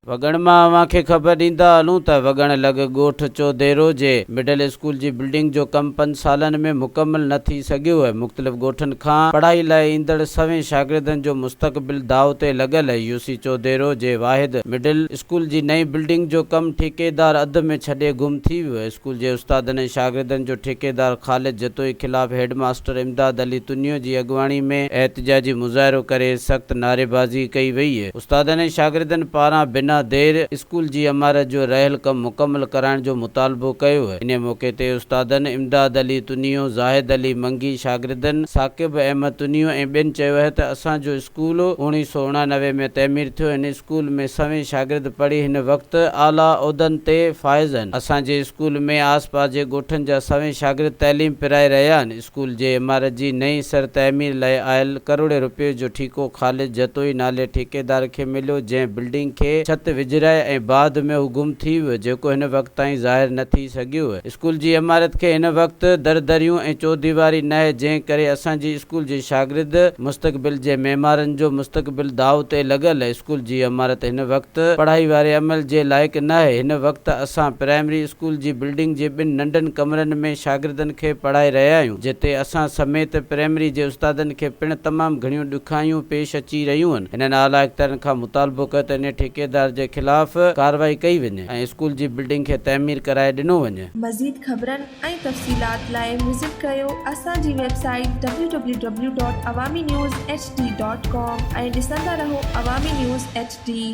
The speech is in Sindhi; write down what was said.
وڳڻ مان اوهان کي خبر ڏيندا هلون ته وڳڻ لڳ ڳوٺ چوڌيرو جي مڊل اسڪول جي بلڊنگ جو ڪم پنج سالن ۾ مڪمل نه ٿي سگهيو ۽ مختلف ڳوٺن کان پڙهائي لاء ايندڙ سوين شاگردن جو مستقبل داء تي لڳل يوسي چوڌيرو جي واحد مڊل اسڪول جي نئين بلڊنگ جو ڪم ٺيڪيدار اڌ ۾ ڇڏي گم ٿي ويو، اسڪول جي استادن ۽ شاگردن جو ٺيڪيدار خالد جتوئي خلاف هيڊ ماستر امداد علي تنيو جي اڳواڻي ۾ احتجاجي مظاهرو ڪري سخت نعريبازي ڪئي وئي، استادن ۽ شاگردن پاران بنا دير اسڪول جي عمارت جو رهيل ڪم مڪمل ڪرائڻ جو مطالبو ڪيو، انهي موقعي تي استادن امداد علي تنيو، زاهد علي منگي، شاگردن ثاقب احمد تنيو ۽ ٻين چيو اهي ته اسان جو اسڪول اوڻيهه سؤ اڻانوي ۾ تعمير ٿيو هن اسڪول ۾ سوين شاگرد پڙهي هن وقت اعليٰ عهدن تي فائز آهن. اسان جي اسڪول ۾ آس پاس جي ڳوٺن جا سوين شاگرد تعليم پرائي رهيا آهن. اسڪول جي عمارت جي نئين سر تعمير لاء آيل ڪروڙين رپين جو ٺيڪو خالد جتوئي نالي ٺيڪيدار کي مليو جنهن بلڊنگ کي ڇت وجهرائي ۽ بعد ۾ هو گم ٿي ويو جيڪو هن وقت تائين ظاهر نه ٿي سگهيو. اسڪول جي عمارت کي هن وقت در دريون ۽ چوديواري ناهي جنهن ڪري اسان جي اسڪول جي شاگرد مستقبل جي معمارن جو مستقبل داء تي لڳل اسڪول جي عمارت هن وقت پڙهائي واري عمل جي لائق ناهي هن وقت اسان پرائمري اسڪول جي بلڊنگ جي ٻن ننڍن ڪمرن ۾ شاگردن کي پڙهائي رهيا آهيون جتي اسان سميت پرائمري جي استادن کي پڻ تمام گهڻيون ڏکايون پيش اچي رهيون هن اعليٰ اختيارين کان مطالبو ڪيو ته انهي ٺيڪيدار جي خلاف ڪارروائي ڪئي وڃي. ۽ اسڪول جي بلڊنگ کي تعمير ڪرائي ڏنو وڃي. مزيد خبرن ۽ تفصيلات لاء وزٽ ڪريو اسان جي website W W W dot Awami news H D dot com ۽ ڏسندا رهو عوامي نيوز ايڇ ڊي.